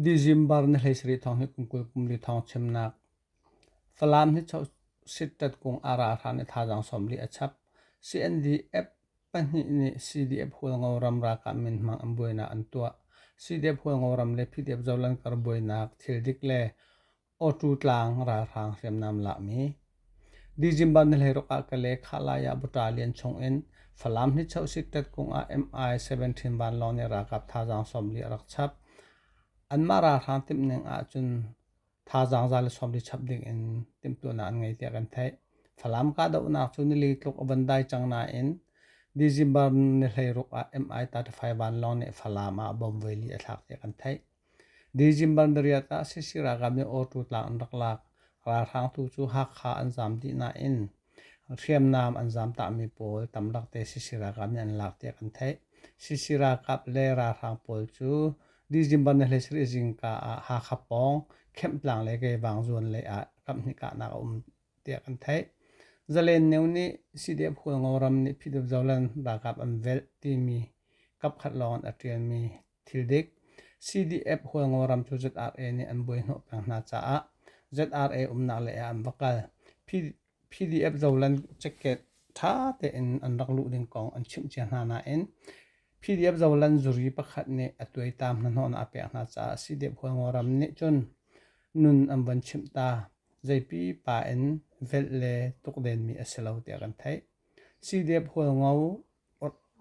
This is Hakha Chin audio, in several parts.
December ni hlei sarih thawng hi kum kul kum li thawng chimnak. Falam hi sittat kung a ra hran i thazaang sawmli a chap. CNDF pahnih nih CDF hualngo ram ralkap minhmang an buainak an tuah. CDF hualngo ram le PDF zolan kar buainak, thil dik le Awṭu tlang ralhrang hriamnam lakmi December ni hleiruk ah Kale Khalai ah buṭa lian chungin Falam hnichoh sikṭet kung ah MI-17 vanlawng nih ralkap thazaang sawmli a rak chap. Anmah ralhrang timhning ahcun thazaang za le sawmli chap dingin timhtuahnak an ngei tiah kan theih. Falam kahdohnak cu nili tluk a van dai cang nain December ni hleiruk ah MI-35 vanlawng nih Falam ah bomb veli a thlak tiah kan theih. December ah sac ralkap nih Awṭu tlang an rak lak. Ralhrang tu cu Hakha an zam dih nain hriamnam an zamtahmi pawl tamlak te sac ralkap nih an lak tiah kan theih. Sac ralkap le ralhrang pawl cu December ni hlei sarih zingka ah Hakha pawng Khemhtlang le Keivang zawn lei ah kaphnih kahnak a um tiah kan theih. Zalenno nih CDF Hualngo ram nih PDF Zoland ralkap an velh timi kapkhat lawng in a ṭialmi Thil dik, CDF hualngo ram cu ZRA nih an buaihnawh peng hna caah ZRA umnak lei ah an va kal. PDF zolan ceket ṭha tein an rak luh ding kong an chimh cia hna nain PDF zolan zuri pakhat nih a tuaitam hnahnawhnak a pek hna caah CDF hualngo ram nih cun nun an van chimh ta. Zeipi pa in velh le tukdenmi a si lo tiah kan theih. CDF hualngo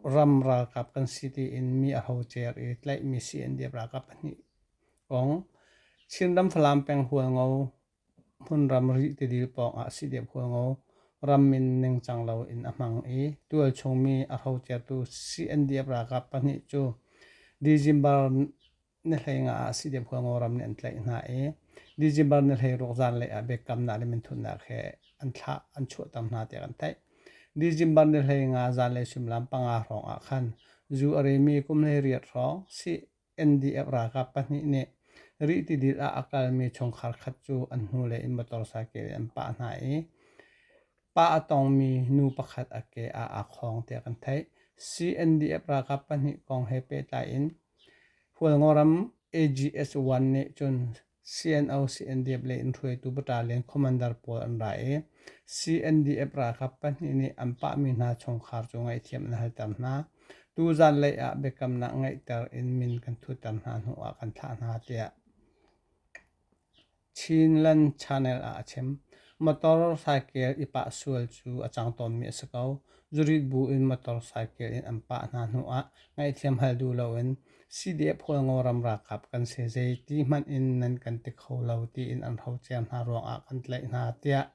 Ram ralkap kan si tiin mi a ho cer i tlaihmi CNDF ralkap pahnih kong Chinram Falam peng Hualngo hmun ram rih tidil pawngah CDF Hualngo ram in ningcang loin a hmang i tualchung mi a ho certu CNDF ralkap pahnih cu December na hleingah ah sidem khual ngoram nih an tlaih hna i December na hleiruak zanlei ah biakamnak le minthunnak he an thlah an chuahter hna tiah kan theih. December ni hlei nga zanlei suimilam panga hrawng ah khan zu a remi kum hlei riat hrawng CNDF ralkap pahnih nih rih tidil ah a kalmi chungkhar khat cu an hnulei in motor cycle in an pah hna i Pa a tongmi nu pakhat a ke ah aa khawng tiah kan theih. CNDF ralkap pahnih kong he pehtlai in Hualngoram AGS1 nih cun CNO CNDF lei in hruaitu battalion commander pawl an ra i CNDF ralkap pahnih nih an pahmi hna chungkhar cu ngaihthiam an halter hna. Tuzaan lei ah biakamnak ngeihter in min kan thutter hna hnuah kan thlah hna tiah Chinland Channel ah a chim. Motor cycle i pah sual cu a cang tawnmi a si ko. Zurit bu in motor cycle in an pah hna hnu ah ngaihthiam hal duh loin CDF Kawlngaw ram ralkap kan si zei ti hmanh in nan kan ti kho lo tiin an hrocer hna ruangah kan tlaih hna tiah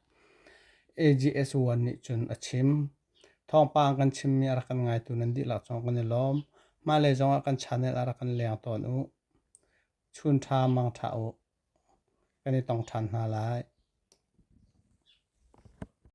AGS1 nih cun a chim. Thawngpang kan chimmi a rak kan ngaitu nan dihlak zong kan i lawm. Hmailei zongah kan channel ah rak kan leng tawn u. Chun ṭha mang ṭha u. kan i tong ṭhan hna lai.